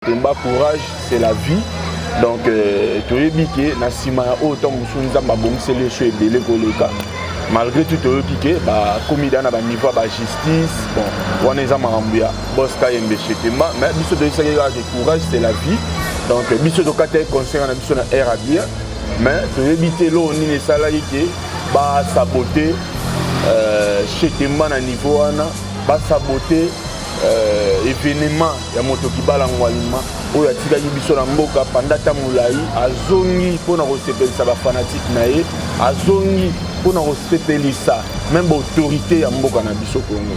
Temba courage c'est la vie donc euh, toyebi ke na nsima ya oyo ntango mosusu nzambe abongiseli esu ebele koleka malgré tout toyoki ke bakomi da na baniveau ya bajustice bon wana eza makambo ya bos kayembe chetemba mais biso toyebisaki kaka ke courage c'est la vie donc euh, biso tokataki concert na biso na air abien mais toyebi te eloko nini esalaki ke basabote euh, chetemba na niveau wana basabote euh, evenement ya moto kibala ngwalima oyo atikaki biso na mboka panda ata molai azongi mpo na kosepelisa bafanatike na ye azongi mpo na kosepelisa meme baautorité ya mboka na biso kongo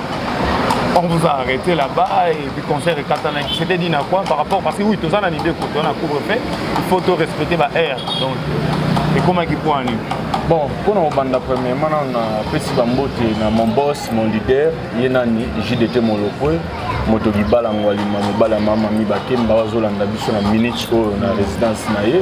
on vous a arrêté là-bas et puis concert et Katana qui s'était dit na quoi par rapport parce que oui tous en a idée qu'on a couvre fait il faut tout respecter ma air donc et comment qui point nu bon pour nous banda premièrement on a pesi bambote na mon boss mon leader ye nani JDT Molokwe moto libala ngwalima mobala mama mi bakemba bazolanda biso na minute oyo na résidence na ye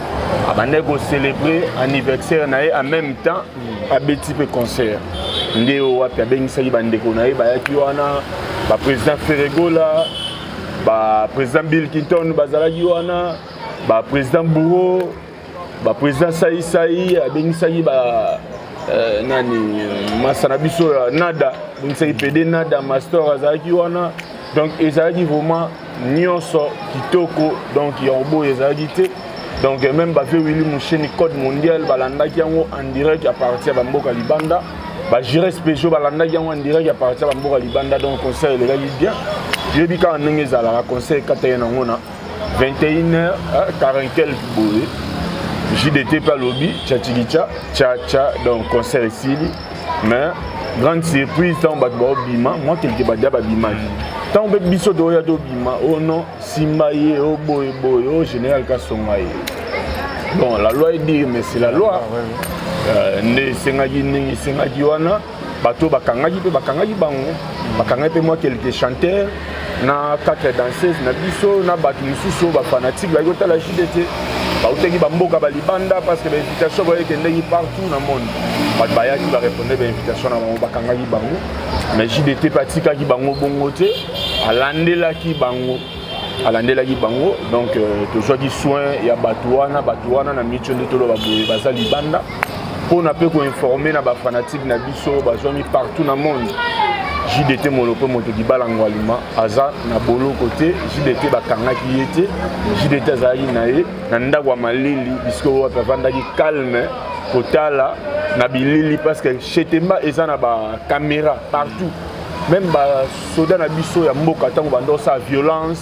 abandaki kocelebre anniversaire na ye en même temps abeti mpe concert nde oyo wapi abengisaki bandeko na ye bayaki wana baprésident ferregola baprésident bill clinton bazalaki wana baprésident bouro baprésident saisai abengisaki ba euh, nani masa na biso ya nada abengisaki pede nada mastor azalaki wana donc ezalaki vraiment nyonso kitoko donc ya oboyo ezalaki te donc même bape willi musheni code mondial balandaki yango en direct ya parti ya bamboka libanda bagire spéciaux balandaki yango en direct ya parti ya bamboka libanda donc concert elekaki bien yebi kaka ndenge ezalaka concert ekata ye nango na 21 heures 40 quelque boye jdt mpe alobi tchatilica tchatcha donc concert esili mais grande surprise ntango bato baobima mwa kelike badia babimaki ntango mpe biso toya tobima o oh non simba ye o oh boye boye o oh général kasonga ye bon la loi edire mais c'est la loi ah, euh, nde esengaki ndenge esengaki wana bato bakangaki mpe bakangaki bango bakangaki mpe mwa kelike chanteur na quatre danseuse na biso na bato mosusu oyo bafanatike bayaki kotala jide te bautaki bamboka balibanda parce que bainvitation boye ekendeki partout na monde bato bayaki bareponde bainvitation na bango bakangaki bango mais jide te mpe atikaki bango bongo te alandelaki bango alandelaki bango donc euh, tozwaki soin ya bato wana bato wana na micho nde toloba boye baza libanda mpona mpe koinforme na bafanatike na biso bazwami partout na monde jdt molope moto libala ngwalima aza na boloko te jdt bakangaki ye te jdt azalaki na ye na ndako ya malili bisiko wapi avandaki calme kotala na bilili parce que chetemba eza na bacaméra partout même basoda na biso ya mboka ntango bandosala violence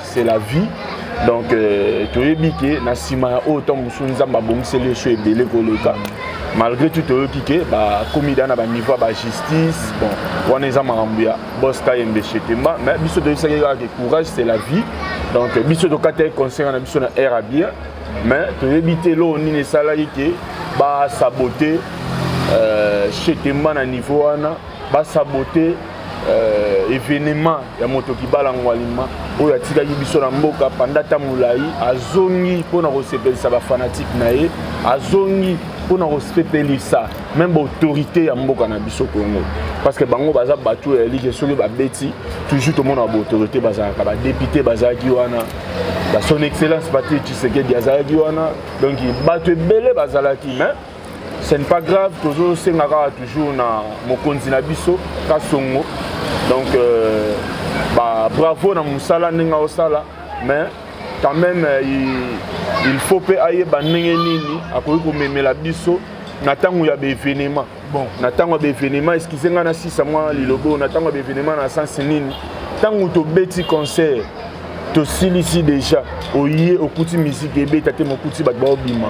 c'est la vie donc euh, toyebi ke na nsima ya oyo ntango mosusu nzambe abongiseli yo so ebele koleka malgré tout toyoki ke bakomi da na baniveau ya bajustice bon wana eza makambo ya bos kayembe shetemba mais biso toyebisaki kaka ke courage c'est la vie donc biso tokataki concert na biso na air a bien mais toyebi te eloko nini esalaki ke basabote euh, shetemba na niveau wana ba saboter euh, evenement ya moto kibala ngwalima oyo atikaki biso na mboka panda ta molai azongi mpo na kosepelisa bafanatike na ye azongi mpo na kosepelisa meme baautorité ya mboka na biso congo parce que bango baza bato oyo yalike soki babeti toujours tomonaka baautorité bazalaka badepute bazalaki wana son excellence patrick tshisekedi azalaki wana donc bato ebele bazalaki mais ce n'est pas grave tozosenga kaka toujours na mokonzi na biso kasongo donc euh, ba bravo na mosala ndenge aosala mais quand même euh, il, il faut mpe ayeba ndenge nini akoki komemela biso na ntango ya baevenema bon na ntango ya baevenema eskize ngai na sisa mwa lilobo na ntango ya baevenema na sense nini ntango tobeti concert tosilisi deja oye okuti miziki ebeta te mokuti bato baobima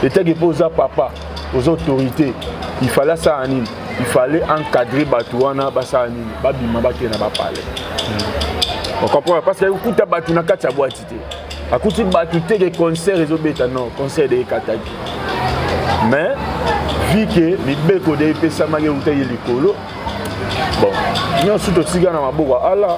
etaki mpo oza papa oza autorité il fallait asala nini il fallait encadrer bato wana basala nini babima bakende na bapale hmm. okomprendre parce que okuta bato na kati ya bwati te akuti bato te ke concert ezobeta non concert ekataki mais vu ke mibeko de epesamaki euta ye likolo bon nyonso totika na maboko ya ala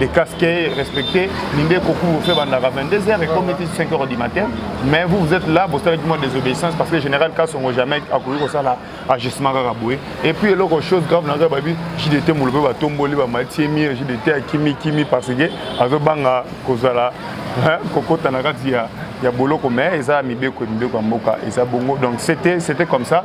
de casquet respecté ninde kokumu fait bandaka 22 heures et comme était 5 heures du matin mais vous vous êtes là bosalaki moi désobéissance parce que le général kasongo jamais akoki kosala agissement kaka boye et puis eloko chose grave naza babi jdt molobe batomboli bamatiemi jdt akimi kimi parce que azobanga kozala kokota na kati ya ya boloko mais eza mibeko mibeko ya mboka eza bongo donc c'était c'était comme ça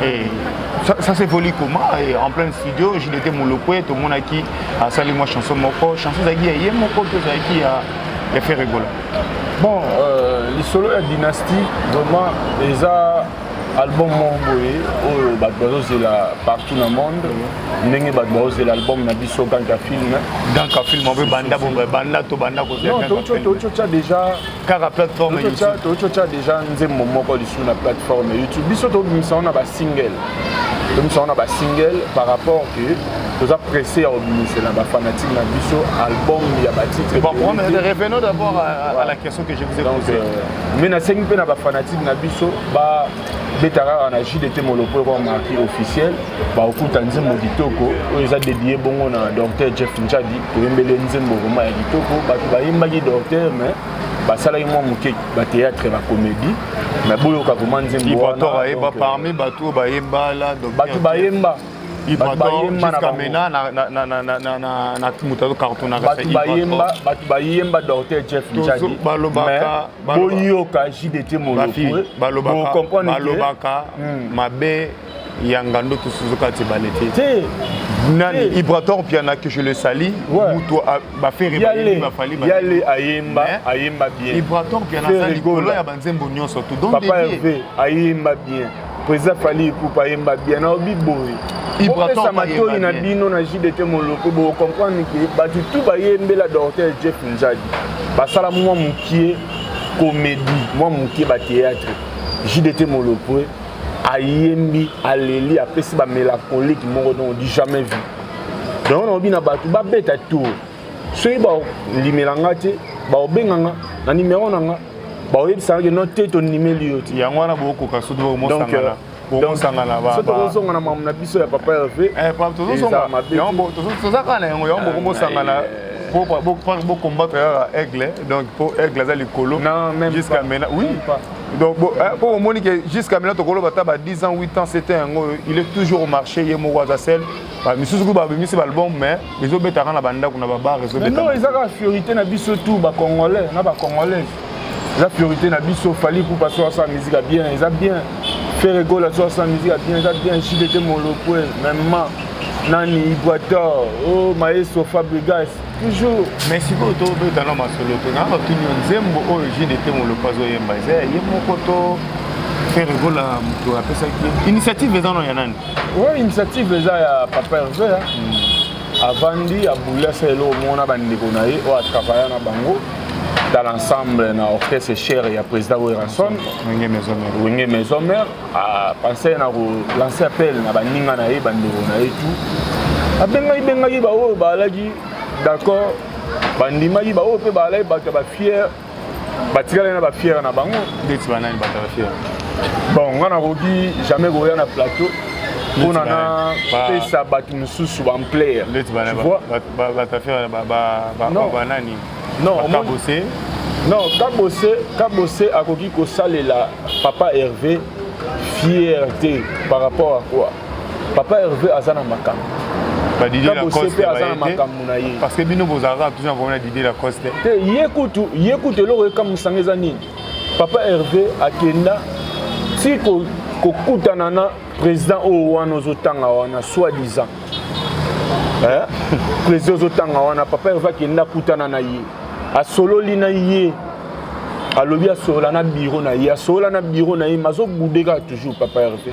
Hey, eh, ça, ça s'évolue comment Et eh, En plein studio, j'y étais Molokwe, tout le monde a qui a salué moi chanson moko, chanson zaki ya ye moko, tout zaki ya ya fait rigola. Bon, euh, les solos à dynastie, vraiment, les a album moko boye oyo bato bazozela partout na monde ndenge bato bazozela album na biso ganka film ganka film oyo banda banda to banda kozela totya déjà kaka plateforme totya deja nzembo moko lisusu na plateforme ya youtube biso tobimisa yango na basingle tobimisa yango na basingle par rapport ke toza presse ya kobimisela bafanatike na biso album ya batitre mais nasengi mpe na bafanatike na biso ba beta kaka na jus de te molopo eko marki officiel bakokuta nzembo kitoko oyo eza dedie bongo na docteur jeff njadi toyembeli nzembo vraimen ya kitoko bato bayembaki docteur mais basalaki mwa moke bateatre bacomédie mais boyoka vraimen nzembo wana parmi bato oyo bayemba bato bayemba bato bayemba docteur jeff njadi boyoka jdt molobaka hmm. mabe ya ngando tosuzuka te balete te nani ibrator piana que je le sali mutu bafere bafali yale ayemba ayemba bien ibrator piana aza likolo ya banzembo nyonso tout donc ayemba bien Président Fally Ipupa yemba bien na obi boye. Ibraton matoyi na bino na JDT Moloko bo comprendre que batu tout bayembela docteur Jeff Nzadi. Basala mwa mukie comédie, mwa mukie ba théâtre. JDT Moloko ayembi aleli apesi ba mélancolique moko donc du jamais vu. Donc na obi na batu babeta tour. soki balimela nga te baobenga nga na nimero na nga baoyebisanga ke no te tondimeli yo te yango wana bokoka soki bomosangana euh, tozosangana tozosongana mamu na biso ya papa herve eh, toza kaka na yango yango ah, bokomosangana bokombatre kaka aigle donc mpo aigle aza likolo jusqu'à maintenant oui donc mpo eh, omoni ke jusqu'à maintenant tokoloba ata ba 10 ans 8 ans 7 ans yango il est toujours au marché ye moko aza sel ba misusu kuba babimisi ba album mais ezobetaka na bandako na babar ezobetano eza kaka fiorité na biso tout ba congolais na ba congolais eza fiorité na biso fali kupa so asala musique ya bien eza bien ferre gola so asala musique ya bien eza bien jdt molokwe mema nani iguator o oh, maestro fabrigas toujours mais sikoyo tobeta na masolo te na batuni yo nzembo oyo jdt molokwe azoyemba eza ya ye moko to ferre gola moto apesaki initiative eza no ya nani Oui, initiative eza ya papa Hervé. Hein. Mm. Avandi abula sa eloko moko na bandeko na ye oyo atravaya na bango dans l'ensemble na orchestre cher ya président Werrason Wenge Maison Mère Wenge Maison Mère a pensé na ko lancer appel na baninga na ye bandeko na ye tout abengaki bengaki baoyo baalaki d'accord bandimaki baoyo mpe baalaki bato ya bafiere batikala na ba fière na bango ndeti ba nani batala fière bon nga nakoki jamais koya na plateau mpona na pesa bato mosusu bamplaire ndeti batafière banani non kabose non kabose kabose akoki kosalela papa herve fière te par rapport à quoi papa herve aza na makambo babosepe aza na makambo na ye parce que bino bozalaka toujours na problème na didie lacoste te ye kutu ye kutu eloko ekamwisanga eza nini papa herve akenda ti kokutana na président oyo wana ozotanga wana soit disant eh? président ozotanga wana papa herve akenda akutana na ye asololi na ye alobi asolola na biro na ye asolola na biro na ye mazobudeka toujours papa herve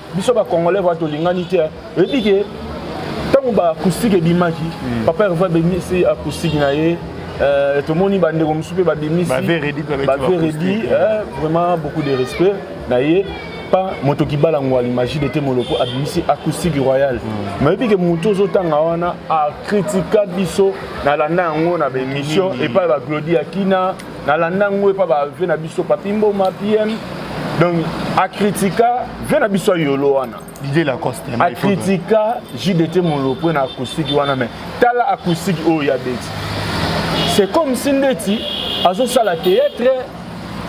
biso ba congolais va tolingani te oyebi ke ntango ba acoustique ebimaki hmm. papa herve abimisi acoustique na ye euh, tomoni bandeko mosusu mpe babimisi baveredi euh, vraiment beaucoup de respect na ye pa moto kibala ngwali magie de te moloko abimisi acoustique royal hmm. nayebi ke motu ozotanga wana akritika biso nalanda yango na baémission epai baglodi ya kina nalanda ngo epa ba vie na biso papi mboma pm donc acritika vie na biso ya yolo wana didier lacoste acritika jdt molopwe na acoustique wana mais tala acoustique oyo ya beti c'est comme si ndeti azosala théâtre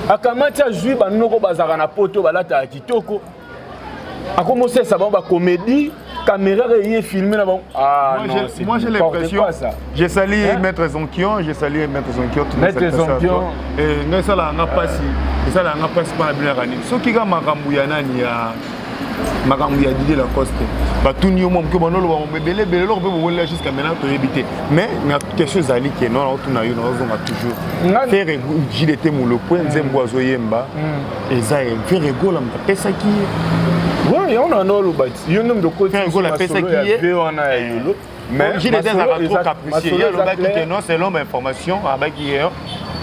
akamati azwi banoko bazalaka na poto balataka kitoko akomosesa bango bacomédie caméra eye filme na bango ah, moi j'ai l'impression j'ai sali maître zonkion j'ai sali maître zonkion maître zonkion eh, ngai esalaka nga mpasi esalaka nga mpasi mpo na bino yaka nini soki ka makambo ya nani ya makambo ya didie lacoste batuni yo mwa moke banoloba mambo ebele ebele eloko mpe bokolela jusqu'à maintenant toyebi te mais na question ezali ke no naotuna yo naozonga toujours fere jide te molopwe nzembo azoyemba mm. eza ye ferre gola moto apesaki ye Oui, yango na nao oloba ti yo nde moto okotimasolo ya ve wana ya yolo masolo alobaki ke non selon bainformation abaki ye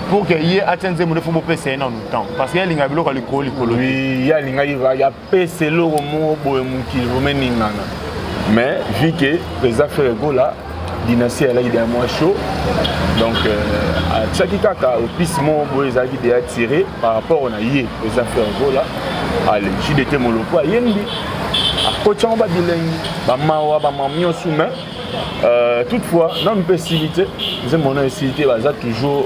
pour que ye atya nzembo nde fo bopesa ye nanu temps parce que ye alingaka biloko ya likolo likolo ye alingaki pesa eloko moko boye mokili bomeningana mais vu que président frere gola dynastie alaki deya mwa chaud donc euh, atiaki kaka opise moko boye ezalaki deya tire par rapport na ye président frere gola ale jdt moloko ayembi akoti yango babilengi bamawa bamam nyonso mais euh, toutefois nanu mpe esili te nzembo na esili te baza toujours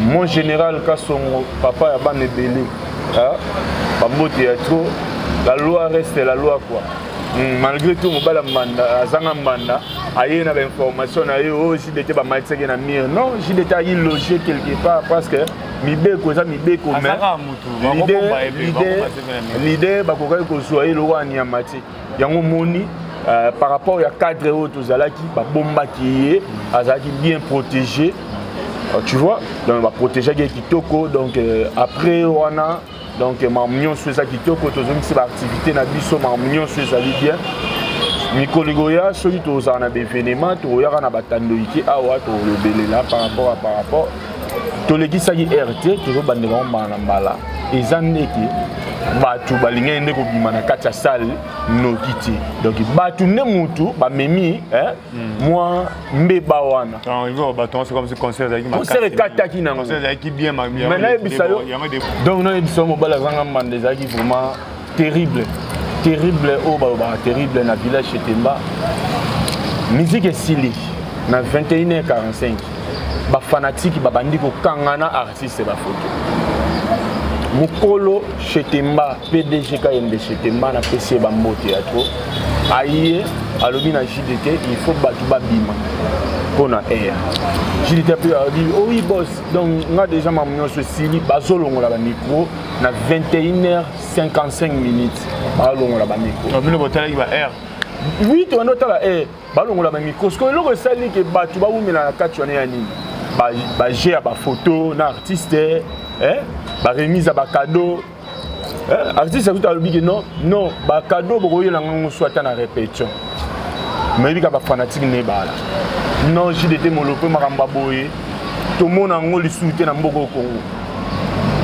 Mon général Kasongo, papa ya bana ebele, bambote ya trop, la loi reste la loi quoi. Hmm, malgré tout mobala mbanda azanga mbanda aye na bainformation na ye oyo oh, jdt bamatisaki na mire non jdt ayi loge quelque part parce que mibeko eza mibeko mais leader bakokaki kozwa ye lokola nyama te yango moni euh, par rapport ya cadre oyo tozalaki babombaki ye azalaki bien protégé euh, tu vois donc baprotégeaki ye kitoko donc euh, après wana donc mamu nyonso eza kitoko tozongisi baactivité na biso mamu nyonso ezali bien mikolo ekoya soki tozala na baevenema tokoyaka na batandoike awa tolobelela par rapport a par rapport tolekisaki heure te tozobandela yango mbala na mbala eza ndeke bato balingaki nde kobima na kati ya sale noki te donc bato nde motu bamemi hmm. mwa mbeba wana concert ekataki nango donc nayebisa yo mobali azanga mbanda ezalaki vraiment Terrible. Terrible oyo balobaka terrible na village chez Temba. Musique esili na 21h45. Ba fanatiques babandi kokangana artiste ba photo. Mukolo chez Temba, PDG Kayembe chez Temba na PC ba mbote ya trop. Aye alobi na JDT il faut batu babima. mpo na air jilite mpe alobi oyi oh bos donc nga déjà mamu nyonso esili bazolongola bamikro na 21 heures 55 minutes balongola bamikro bino botalaki ba aire oui tobandi otala aire balongola bamikro sikoyo eloko esali ke bato bawumela na kati wana ya nini baje ya bafoto na artiste eh? baremise ya bacado eh? artiste akuta alobi ke non non bacado bokoyela ngango so ata na répétition mayebi ka bafanatike na ebala non jdt molope makambo ya boye tomona yango lisusu te na mboka okongo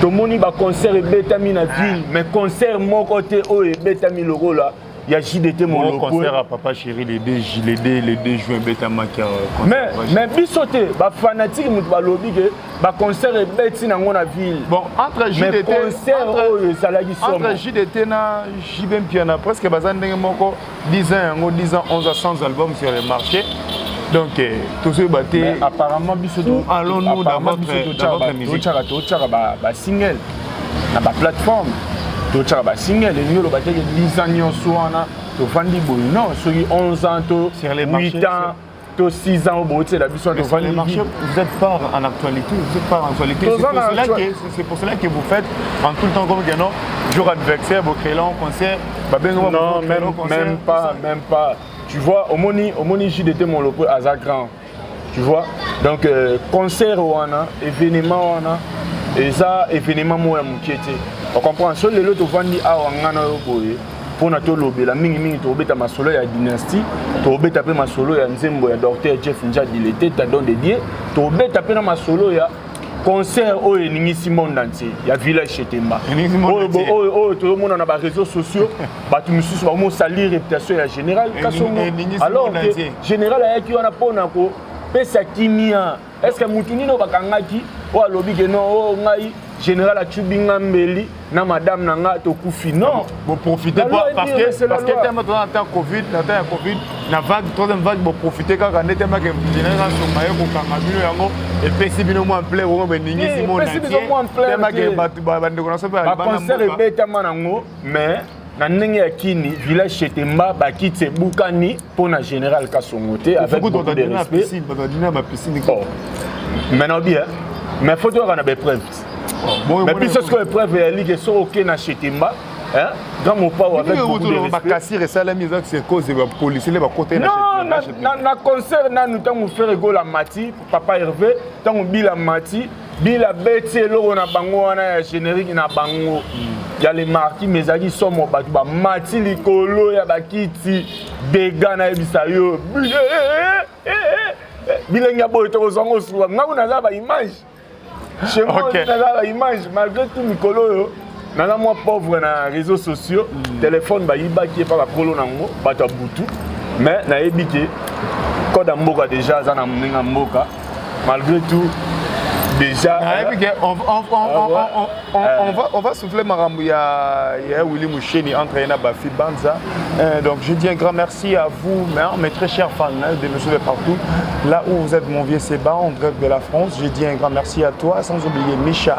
tomoni ba concert ebetami na ville mais concert moko te oyo ebetami lokola ya JDT Molo concert à papa chéri les deux les deux les deux juin ebetamaki mais mais biso te ba fanatique moto balobi ke ba concert ebeti nango na ville bon entre JDT concert oyo ezalaki somo entre JDT na JB Mpiana presque baza ndenge moko 10 ans yango 10 ans 11 ans sans album sur les marchés donc euh, tozoyeba te apparemment biso allons-nous dans votre musique totyaka basingle na baplateforme totyaka basingle elingi oloba te 10 ans nyonso wana tofandi boye non soki 11 ans to 8 ans to 6 ans oboyotela biso wana tovandi marché vous êtes pas en actualité vous êtes pas en actualité c'est pour, cela que, c'est pour cela que vous faites en tout le temps comme que non jour adversaire bocréla en concert babenga non même, même pas même pas tu vois omoni omoni jdt molopo aza grand tu vois donc euh, concert wana événement wana eza événement moko ya moke te ocomprendre so lelo tovandi awa ngai na yo boye mpona tolobela mingimingi tokobeta masolo ya dynastie tokobeta mpe masolo ya nzembo ya docteur jeff njadi leteta don de dieu tokobeta mpe na masolo ya concert oyo eningisi monde entier ya village chetemba oyo toyomona na bareseau sociaux bato mosusu bamosalir réputation ya général kasongo alors que général ayaki wana mpona kopesa kimia est ce que mutu nini oyo bakangaki oyo alobi ke non oyo oh, ngai général acubi nga mbeli na madame na nga tokufi non boprofite parce que parce que tellement toza na temps covid na temps ya covid na vague troisième vague boprofite kaka nde tellement ke général asonga ye kokanga bino yango epesi bino mwa mple bongo beningisi eh, mo natie tellement ke bandeko na so mpe concert ebetama nango mais na ndenge ya kini village chetemba bakiti ebukani mpo na général kasongo te avec beaucoup de respect oh. maintenant bien mais faut toyaka na baepreuve oh, mais biso sikoyo epreuve ya ligue soki oke na chetemba grand mopao avec beaucoup de respect makasir esalami eza cause ya policier nde bakota na concert nanu ntango ferre egola mati papa herve ntango bila mati bila beti eloko na bango wana ya générique na bango ya le marti mais ezalaki somo bato bamati likolo ya bakiti dega nayebisa yo bilenge ya boye tokozwa ngo suka ngai kuna naza baimage chez moi naza baimage malgré tout mikolo oyo naza mwa pauvre na réseaux sociaux mm. telefone bayibaki epa bakolo nango bato ya butu mais nayebi ke code ya mboka déjà aza na ndenge ya mboka malgré tout déjà nayebi ke on va souffler makambo ya willy musheni entre ye na bafi banza euh, donc je dis un grand merci à vous mes très chers fans de monsieur de partout là où vous êtes mon vieux seba en direct de la france je dis un grand merci à toi sans oublier micha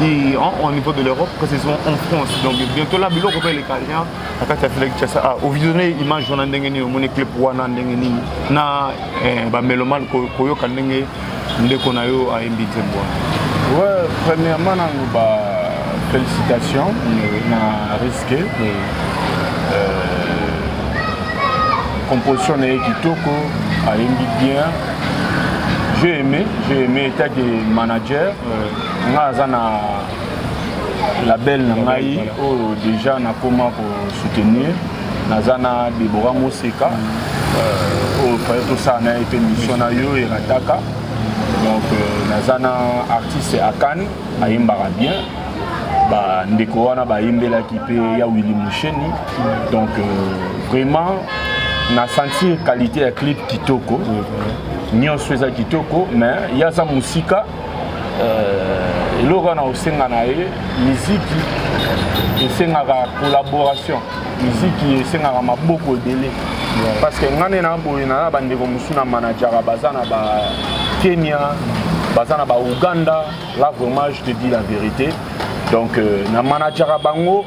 Et en, au niveau de l'Europe, précisément en France. Donc bientôt là, biloko pe lekalia na kati ya Felix Chassa a ovisione image wana ndenge nini omoni clip wana ndenge nini na eh, ba melomane koyoka ndenge ndeko na yo ayembi nzembo wana. Ouais, premièrement nango ba félicitations mm. na risque. Mm. Euh, composition na ye kitoko ayembi bien. J'ai aimé, j'ai aimé état de manager. Euh, nga aza na label na ngai oyo deja nakoma ko soutenir naza na debora moseka euh, oyo faye tosala na ye mpe mission na yo erataka donc euh, naza na artiste akane ayembaka bien bandeko wana bayembelaki mpe ya willi musheni donc euh, vraiment na sentir qualité ya clip kitoko nyonso eza kitoko mais ye aza mosika Euh, eloko wana osenga na ye miziki esengaka collaboration miziki esengaka maboko ebele parce que ngai nde na boye na bandeko mosusu na manajaka baza na ba kenya baza na ba ouganda là vraiment je te dis la vérité donc euh, na manajaka bango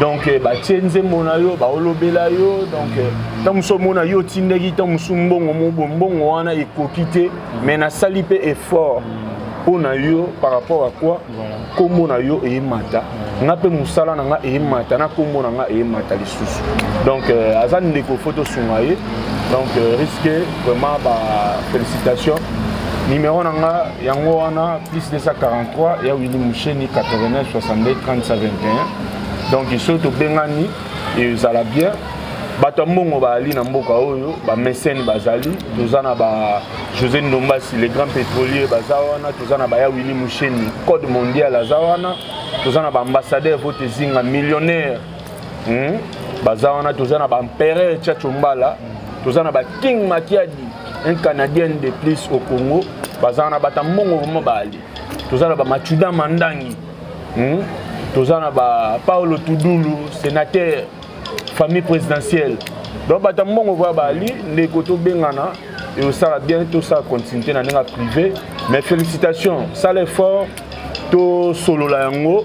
donc eh, batie nzembo na yo baolobela yo donc eh, ntango mosusu omona yo otindaki ntango mosusu mbongo mobo mbongo wana ekoki te mais nasali mpe effort mpo na yo par rapport à quoi nkombo na yo eyemata nga mpe mosala na nga eyemata na nkombo na nga eyemata lisusu donc eh, aza ndeko fo tosunga ye donc risque vraiment bafélicitation numéro na nga Yango wana plus 243 ya Willy Musheni 89 62 30 21 donc soki tobengani ezala bien bato ya mbongo bazali na mboka oyo bamesene bazali toza na ba josé ndombasi le grand pétrolier baza wana toza na baya willi musheni code mondial aza wana toza na baambassadeur vote ezinga millionnaire hmm? baza wana toza na baempereur chacho mbala toza na baking makiadi un canadien de plus au congo baza wana bata mbongo vraimen baali toza na bamachuda mandangi hmm? toza na ba paolo tudulu sénateur famille présidentielle donc bata mbongo vraimen baali ndeko tobengana ekosala bien tosala continuité na ndenge ya privé mais félicitation sala effort tosolola yango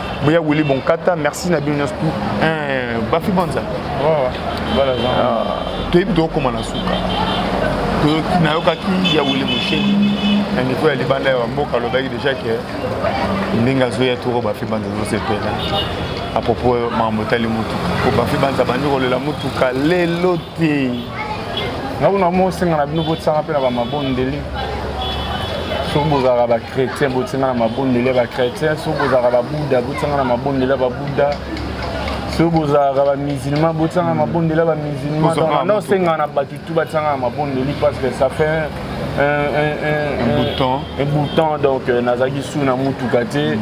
boya wili bonkata merci na bino nyonso tout eh, bafi bonza toyebi tokokoma na suka nayokaki ya wili mosheni na niveau ya libanda ya bamboka alobaki deja ke ndenge azoya toko bafi banza azosepela apropos makambo etali motuka po bafi banza bandi kolela motuka lelo te nga kuna mosenga na bino botisanga mpe na bamabondeli soki bozalaka bachrétien botinga na mabondeli ya bachrétien soki bozalaka babuda botinga na mabondeli ya babuda soki bozalaka bamusulman botianga hmm. mabondeli ya bamusulman donc na osenga na bato tu batianga na mabondeli parce que ça fait eboutant donc euh, nazalaki su na motuka te hmm.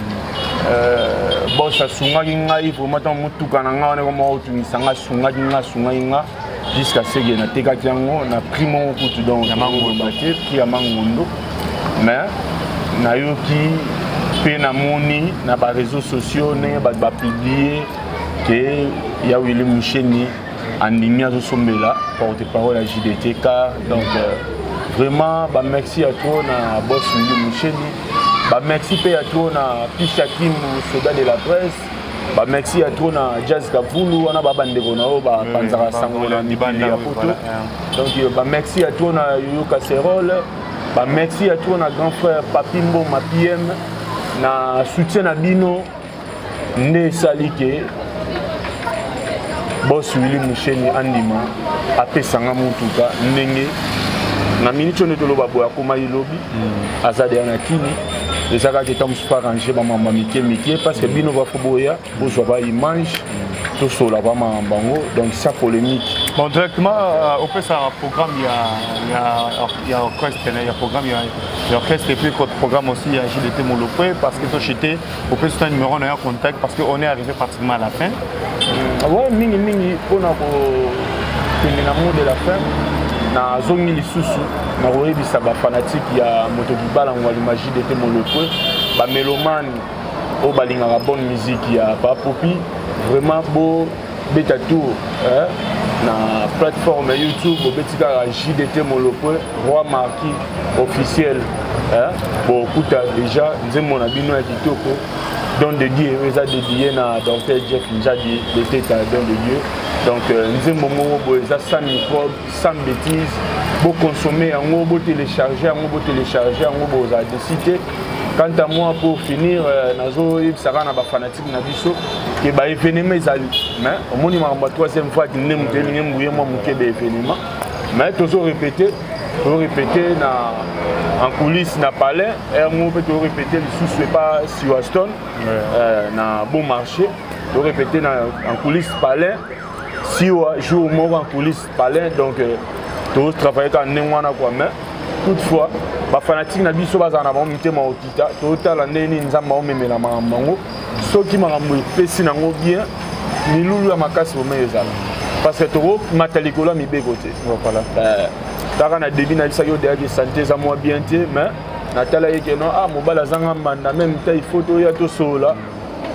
euh, bos asungaki ngai vraimen ntango motuka na ngai wana ekoma otungisa ngai asungaki ngai asungaki ngai jusqu'à ce que natekaki yango na prix moko kutu donc ya mangondo te prix ya mangondo mais nayoki mpe namoni na bareseau sociaux ndenge bato bapublie ke ya wili musheni andimi azosombela porte parole ya jdt car donc euh, vraiment bamexi ya trop na bos wili musheni bamexi mpe ya trop na pisha kimu soda de la presse ba merci ya trop na jazz kavulu wana ba bandeko na oyo bapanzaka sango na mibali ya poto donc euh, ba merci ya trop na yoyo casserole ba merci ya trop na grand frère papi mboma pm na soutien na bino nde esali ke bos wili musheni andima apesanga motuka ndenge na miniti oyo nde toloba boye akomaki lobi hmm. aza deya na kini eza kaka ntango mosusu arrange bamama mike mike parce que bino bafo boya bozwa ba image tosola bamama bango donc sa polémique bon directement euh, opesaka programme ya orchestre ya programme ya orchestre epuis programme aussi ya gdt molopwe parce que tochete opesi na numéro na ya contact parce que on est arrivé pratiquement à la fin mm, ouais mingi mingi mpona kokende na mot de la fin nazongi lisusu nakoyebisa bafanatike ya moto libala ngwa limagie de te molopwe bamelomane oyo balingaka bonne musique ya papopi vraiment bo beta tour eh? na plateforme youtube obeti kaka jdt molopwe roi marki officiel eh? bokuta déjà nzembo na bino ya kitoko don de dieu oyo eza dedie na docteur jeff njadi beteta don de dieu donc euh, nzembo moko boye eza sans microbe sans bétise boconsomme yango botelecharge yango botelecharge yango bozala desite Quant à moi, pour finir, euh, nazo yebisa kaka na ba fanatiques na biso que ba événements ezali. Mais omoni makambo ya troisième fois kinde moto elingi mbuye mwa moke ba événement. Mais tozo répéter, tozo répéter na en coulisses na palais, heure moko mpe tozo répéter lisusu epa Siwaston euh, na bon marché. Tozo répéter na en coulisses palais. Siwa jour moko en coulisses palais donc euh, tozo travailler kaka ndenge wana kua mais toutefois bafanatike na biso bazala na bango mitema okita totala ndenge nini nzambe aomemela makambo yango soki makambo epesi nango bien milulu ya makasi bomei ezala parce que tokomata likolo ya mibeko te eh, kaka na debi nayebisaki odeyaki sante eza mwa bien te mais natala ye keno a ah, mobali azanga mbanda meme ta ifo toya tosolola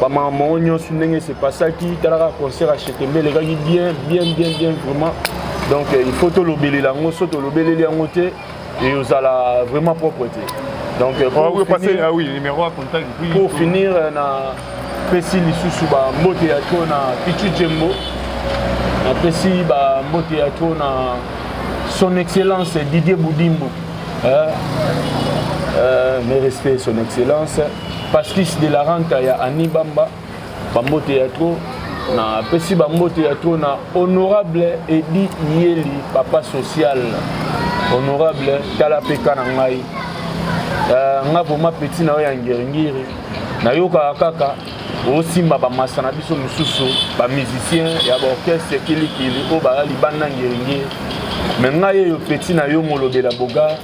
bamama mango nyonso ndenge se pasaki talaka concert ya chetembe elekaki bien bien bien bien vraiment donc euh, il faut tolobelela yango so tolobeleli yango te eozala vraiment propre te donc euh, pour, oh, finir, ah oui, numéro à contact, oui, pour finir euh, na pesi lisusu bambote ya to na pichu jembo napesi bambote ya to na son excellence didier budimbu hein? euh, mes respects son excellence Pasquis de la Ranta ya Annie Bamba, bambote ya trop na pesi bambote ya trop na honorable Edi Yeli papa social honorable tala peka na ngai uh, nga vraimen petit na yo ya ngiringiri nayokaka kaka osimba bamasa na biso mosusu bamusicien ya baorchestre kilikili oyo baya libanda ngiringiri me ngai eyo petit na yo molobela bogar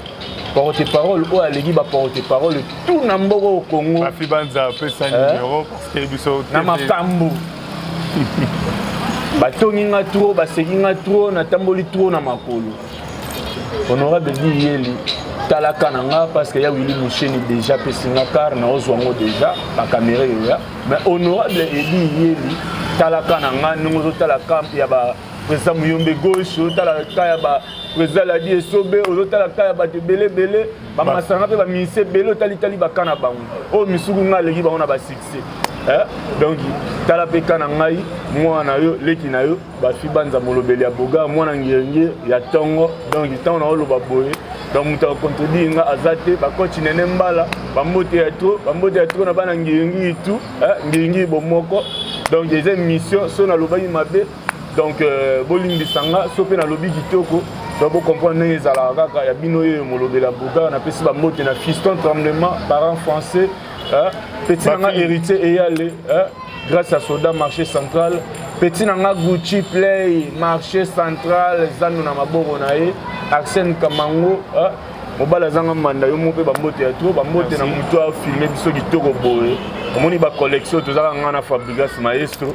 porte parole oyo aleki ba porte parole tout na mboka au Congo. Rafi Banza pesa eh? numéro parce que biso na makambu. batongi nga trop baseki nga trop natamboli trop na makolo honorable biyeli talaka na nga parce que ya wili musheni déjà apesi nga kar naozwa yango déjà bakamera eyoya mais honorable ebi yeli talaka na nga ndenge ozotala camp ya ba président muyombe gauche ozotala ka ya ba président ladi esobe ozotala ka ya bato ebele ebele bamasanga mpe baminisi ebele otalitali baka na bango oyo oh, misuku ngai aleki bango na basuccès eh? donc tala mpe ka na ngai mwana na yo leki na yo bafi banza molobeli ya boga mwana ngenge ya ntongo donc ntango na oloba boye donc moto akontredire nga aza te bakoci nene mbala bambote ya tro bambote ya tro na bana ngenge itu eh? ngenge bomoko donc eza émission so nalobaki mabe donc euh, bolimbisa nga so mpe nalobi kitoko donc bocomprendre ndenge ezalaka kaka ya bino yeyo molobela bogar napesi bambote na fiston tremblement parent français petit na nga héritier eyale grâce à soda marché central petit na nga gucci play marché central zando na maboko na ye arsène kamango mobali azanga manda yo moko mpe bambote ya tro bambote na moto afilme biso kitoko boye omoni bacollection tozalaka ngai na fabrigas maestro